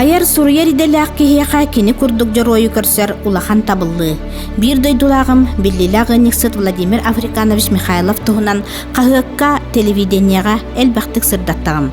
Айар-суруйар идэлээх киһиэхэ кини курдук дьоруойу көрсөр улахан табыллыы. Биир дойдулааҕым, биллиилээх ыанньыксыт Владимир Африканович Михайлов туһунан хаһыакка, телевидениеҕэ элбэхтик сырдаттаҕым.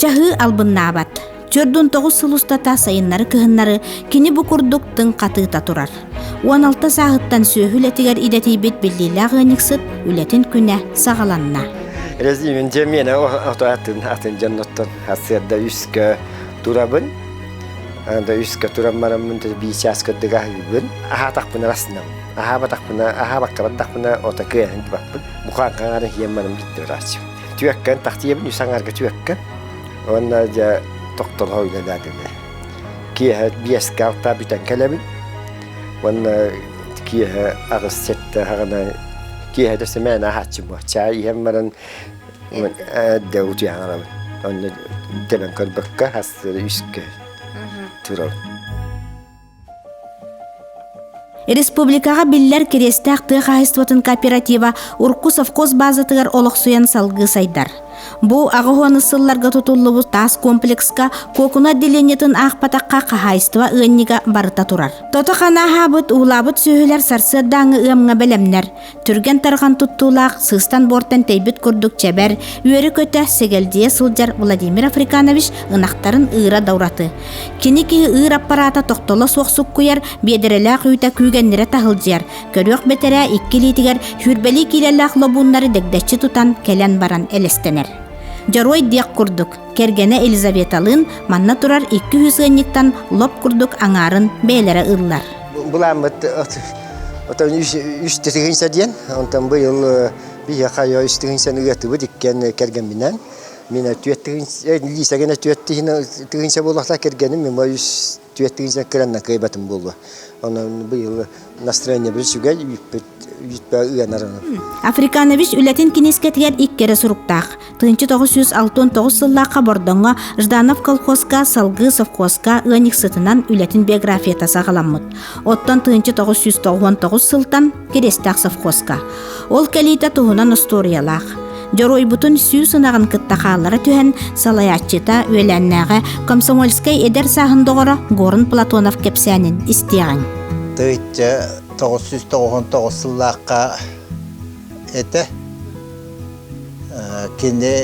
чаһыы албыннаабат төрдүн тоҕус сыл устата сайыннары кыһыннары кини бу курдук тыҥ хатыыта турар уон алта сааһыттан сүөһү үлэтигэр идэтийбит биллиилээх ыанньыксыт үлэтин күнэ саҕаланна Резимин дьэмиэнэ ото атын атын дьонноттон хасыарда үскө турабын да үскө туран мараммын да бии чаас кырдыга аһыыбын аһаатахпын арасынабын Аһаабатахпына, аһаабакка бардахпына, отакы эһэн тубаппын. Букаан хаҥаары ийэм маным дьиттэ бырааччым. Түөккэн, тахтыйабын үс аҥаарга түөккэн. Уонна дьэ тохтоло үлэлээтилэр. Киэһэ биэскэ алтаа бүтэн кэлэбин. Уонна киэһэ аҕыс сэттэ хаҕына киэһэтэ сэмээн аһааччым буо. Чаай иһэн баран эрдэ утуйан алабын. Онно тэбэн көрбөккө, ас үскэ турабын. Республикаҕа биллэр Кириэстээх тыа хаһаайыстыбатын кооператива урку совхоз баазатыгар олохсуйан салгыы сайдар. Бу аҕыһыаны сылларга тутуллубут таас комплекска кокуна отделениетын аахпатахха хаһаайыстыба ыанньыга барыта турар. Тото ханааһаабыт, уулаабыт сүөһүлэр сарсыардааҥы ыамҥа бэлэмнэр. Түргэн тарҕан туттуулаах сыстан буортан тэйбит курдук чэбэр, үөрэ-көтө сэгэлдьийэ сылдьар Владимир Африканович ынахтарын ыыра да ураты. Кини киһи ыыр аппараата тохтоло суох суккуйар, биэдэрэлээх үүтэ күүгэннирэ таһылдьыйар. Көрүөх бэтэрээ икки илиитигэр сүүрбэлии киилэлээх лобууннары дэгдэччи тутан кэлэн баран элэстэнэр. Дьоруой диэх курдук, кэргэнэ Елизаветалыын манна турар икки үһүс ыанньыктан лоп курдук аҥаарын бэйэлэрэ ыллар. Буламмыт Оттон үс тыһыынча диэн, онтон быйыл биһиэхэ үс тыһыынчаны ыатыбыт иккиэн кэргэмминэн. Мин түөрт тыһыынча, Лиса гына түөрт тыһыынча буолуохтаах кэргэним, мен үс түөрт тыһыынча кыранна кыайбатым буолуо. Онон быйыл настроениебыт сүгэл, үүппүт ыанар. Африканабис үлэтин кинискэтигэр икки эрэ суруктаах. 1969 сыллаахха Бордоҥҥо Жданов колхозка, салгыы совхозка ыанньыксытынан үлэтин биографията саҕаламмыт. Оттон 1999 сылтан Киристээх совхозка. Ол кэлиитэ туһунан устуоруйалаах. Дьоруойбутун сүүс ынаҕын кытта хааллара түһэн, салайааччыта үөлээннээҕэ комсомольскай эдэр сааһын доҕоро Горн Платонов кэпсээнин истиэҕиҥ. Тыйча 999 сыллаахха этэ Кини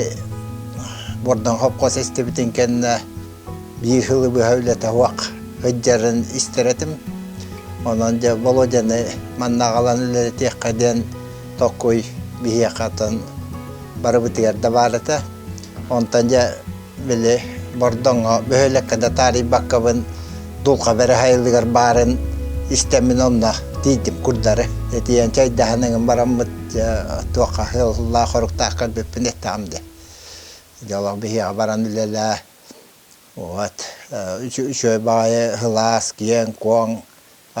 Бордоҥхопхос истибитин кэннэ биир сылы быһа үлэтэ уох сылдьарын истэр этим. Онон дьэ Володяны манна аҕалан үлэлэтиэххэ диэн токуй биһиэхэ атын барыбытыгар да баар этэ. Онтон дьэ Били Бордоҥҥо бөһүөлэккэ да таарыйбаккабын дулҕа бэрэ сайылыгар баарын истэммин онно тиийдим курдары. Этийэн чайдаһан ыҥын бараммыт туохха сыаллаах хоруктаах көрбүппүн эттэҕим дии. Дьолох биһиэхэ баран үлэлээ. Вот үчү-үчүгэй баҕайы сылаас киэҥ-куоҥ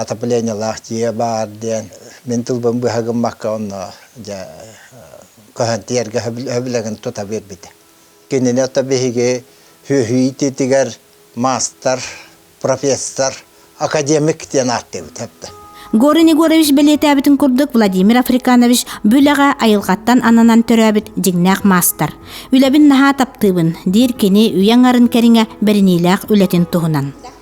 отоплениелаах дьиэ баар диэн мин тылбын быһа гыммакка онно дьэ көһөн тиэргэ сөбүлэҥин тута биэрбитэ. Кинилэртэ биһиги сүөһү иитиитигэр маастар, профессор, академик диэн ааттыыбыт эрдэ. Горин Егорович бэлиэтээбитин курдук, Владимир Африканович бу үлэҕэ айылҕаттан ананан төрөөбүт дьиҥнээх маастар. Үлэбин наһаа таптыыбын, диир кини үйэ аҥарын кэриҥэ бэриниилээх үлэтин туһунан.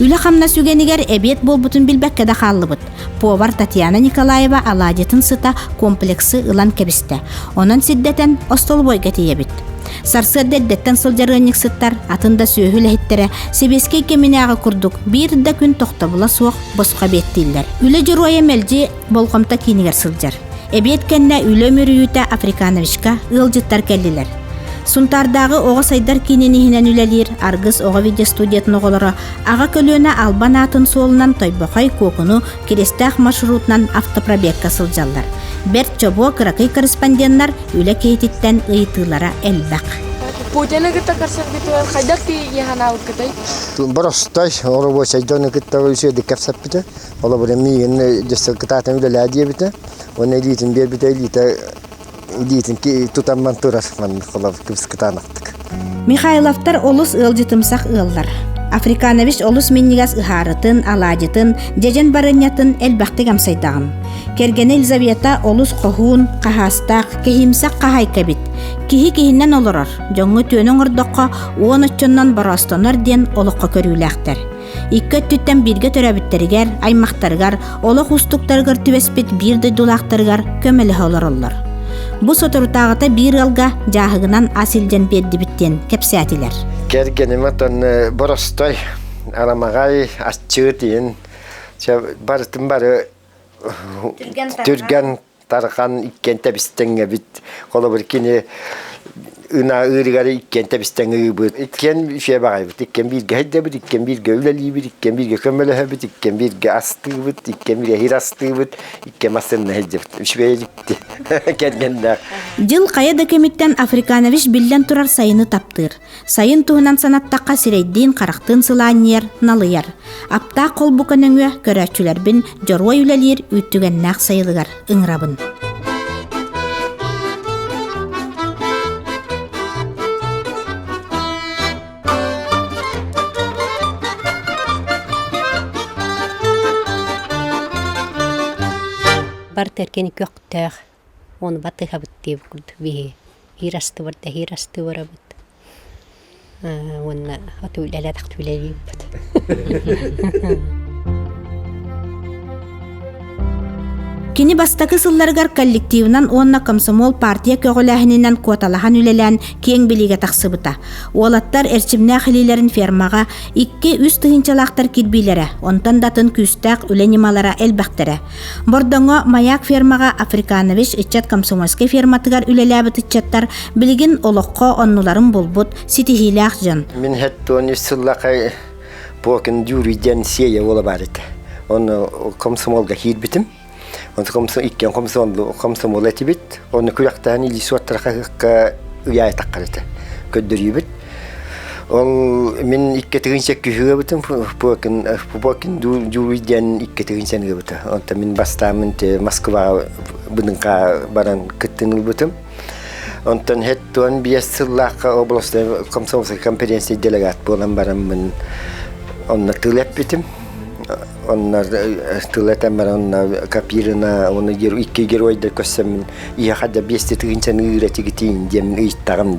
Үлэ-хамнас үгэнигэр эбиэт буолбутун билбэккэ да хааллыбыт. Повар Татьяна Николаева алаадьытын сыта комплексы ылан кэбистэ. Онон сирдэтэн остолобуойга тиийэбит. Сарсыарда эрдэттэн сылдьар ыанньыксыттар атын да сүөһү үлэһиттэрэ сэбиэскэй кэминээҕи курдук биир да күн тохтобула суох босхо эбиэттииллэр. Үлэ дьоруойа мэлдьи болҕомто киинигэр сылдьар. Эбиэт кэннэ үлэ мүрүйүүтэ Африкановичка ыалдьыттар кэллилэр. Сунтаардааҕы оҕо сайдар киинин иһинэн үлэлиир Аргыс оҕо видеостудиятын оҕолоро аҕа көлүөнэ албан аатын суолунан Тойбохой Куокуну Киристээх маршрутунан автопробегка сылдьаллар. Бэрт чобуо кыракый корреспонденнар үлэ киһититтэн ыйытыылара элбэх. Путины кытта көрсөргүтүгэн хайдах тиийиһэн аалыккытай? Барастай оробуочайдыаны кытта үсүөдүк кэпсэппитэ. Холобур, миигин дьэссэл кытаатан үлэлээ диэбитэ. Уонна илиитин биэрбитэ, илиитэ илиитин тутамман турар маннык холобур кыбыскытаанахтык. Михайловтар олус ыалдьытымсах ыаллар. Африканович олус минньигэс ыһаарытын, алаадьытын, дьэдьэн барынньатын элбэхтик амсайдаҕым. Кэргэнэ Елизавета олус хоһуун, хаһаастаах, киһимсэх хаһаайка эбит. Киһи киһинэн олорор, дьоҥҥо түөнү оҥордоххо уон оччонон бороостонор диэн олоххо көрүүлээхтэр. Икки өттүттэн бииргэ төрөөбүттэригэр, аймахтарыгар, олох уустуктарыгар түбэспит биир дойдулаахтарыгар көмөлөһө олороллор. Бу соторутааҕыта биир ыалга дьааһыгынан ас илдьэн биэрдибит диэн кэпсээтилэр. Кэргэниме тонны боростой арамаҕай аччыыт иин барытын бары түргэн Тархан иккиэн тэбистеҥэбит. Холобур, кини ына ыырыгар иккиэн тэбистеҥ ыыбыт. Иккиэн үчүгэй баҕайбыт. Иккиэн бииргэ һэйдэбит, иккиэн бииргэ үлэлиибит, иккиэн бииргэ көмөлөһөбүт, иккиэн бииргэ астыыбыт, иккиэн бииргэ иһир астыыбыт, иккиэн массыынна һэйдэбит. Үчүгэй иликти кэргэннээх. Дьыл хайа да кэмиттэн Африканович биллэн турар сайыны таптыыр. Сайын туһунан санаттахха сирэйдиин-харахтыын сылаанньыйар, налыйар. Аптаах холбука нөҥүө көрөөччүлэрбин дьоруой үлэлиир үүттүгэннээх сайылыгар ыҥырабын. Бар тэркин көхтөөх Ону батыһабыт диэбит курдук биһи иир астыбар да иһир асты барабыт уонна оту үлэлэтэх үлэлиибит Кини бастакы сылларыгар коллективынан уонна комсомол партия көҕүлээһининэн куоталаһан үлэлээн киэҥ билиигэ тахсыбыта. Уолаттар эрчимнээх илиилэрин фермаҕа икки-үс тыһыынчалаахтар кирбиилэрэ, онтон датын күүстээх үлэ ньымалара элбэхтэрэ. Бордоҥо маяк фермаҕа Африканович ыччат комсомольскай ферматыгар үлэлээбит ыччаттар билигин олоххо оннуларын булбут ситиһиилээх дьон. Мин хэттон үс сыллаахай Покин Дюри диэн сиэйэ уола бар еді. Оны комсомолга киирбитим. Иккен комсомол этибит. Оны күрәқтәһен илиисуоттарха ыйай таққарыты. Көддөрүйбүт. Ол мин иккитигин сөккүһүөбүтүм Пупокин Пупокин Дулуй диэн иккитигин саныыбыта. Онтон мин бастаамын Москваҕа быдынка баран кыттын ылбытым. Онтон хэттон биэс сыллаахха областной комсомольскай конференция делегат буолан бараммын онно тыл эппитим. Оннор тыл этэн баран онно Капирина оны икки геройдар көссөммүн ийэхэ да биэсти тыгын саныыра тигитин диэн ыйттаҕым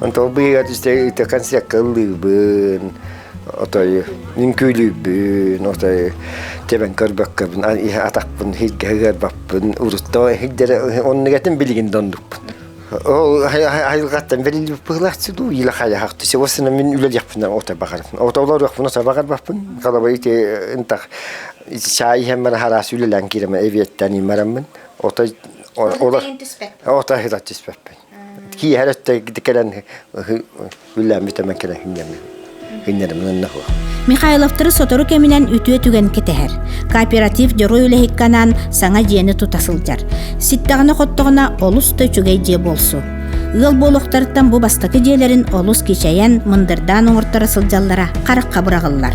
Онтон быыгар ite концертка ыллыыбын, отой үҥкүүлүүбүн, отой тэбэн көрбөккөбүн, иһэ атахпын иһиргэ ыгарбаппын, урутта иһирдэрэ оннугатын билигин да оннукпун. Ол айылҕаттан бэриллибит быһылааччы дуу, илэ хайаһах түсе осына мин үлэлиэхпинэ ота баҕарым. Ото олоруохпун ота баҕарбаппын. Халаба ити ынтах чай иһэн бара хараас үлэлээн киирэм эбиэттэн имараммын. Ота олор ота түспэппин. киэһэр өттө кэлэн күллээммит эмэн кэлэн хынньаммыт Михайловтары сотору кэминэн үтүө түгэн кэтэһэр. Кооператив дьоруой үлэһикканаан саҥа дьиэни тута сылдьар. Ситтэҕинэ-хоттоҕуна олус да үчүгэй дьиэ буолсу. Ыал буолуохтарыттан бу бастакы дьиэлэрин олус кичэйэн, мындырдаан оҥорторо сылдьаллара харахха быраҕыллар.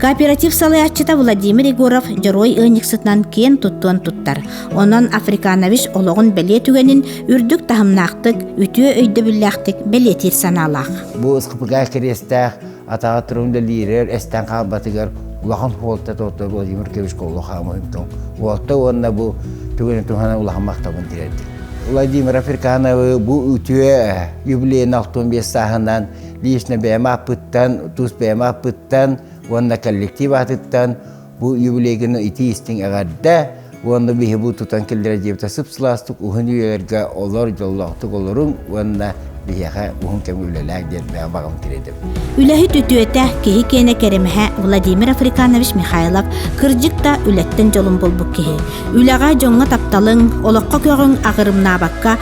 Кооператив салайааччыта Владимир Егоров дьоруой ыанньыксытынан киэн туттуон туттар. Онон Африканович олоҕун бэлиэ түгэнин үрдүк таһымнаахтык, үтүө өйдөбүллээхтик бэлиэтиир санаалаах. Бу ыскыпырга кириэстээх атаҕа турун үлэлиирэр эстэн хаалбатыгар улахан хуолта тотто Владимир Кириллович Колло хаамыһынтон уолта уонна бу түгэнин туһана улахан махтабын тиэрдим. Владимир Африкановы бу үтүө юбилейный 65 сааһынан лично бэйэм ааппыттан, тус бэйэм ааппыттан уонна коллектив аатыттан бу юбилейгины итии-истиҥ эҕэрдэ уонна биһи бу тутан киллэрэ диэбитэ сып-сылаастык уһун үйэлэргэ олор дьоллоохтук олоруҥ уонна биһиэхэ уһун кэмҥэ үлэлээҥ диэн баҕам тириэдэм. Үлэһит үтүөтэ, киһи киэнэ кэрэмэһэ Владимир Африканович Михайлов кырдьык да үлэттэн дьолун булбут киһи. Үлэҕэ дьоҥҥо тапталыҥ, олоххо көҕүҥ агырымнаабакка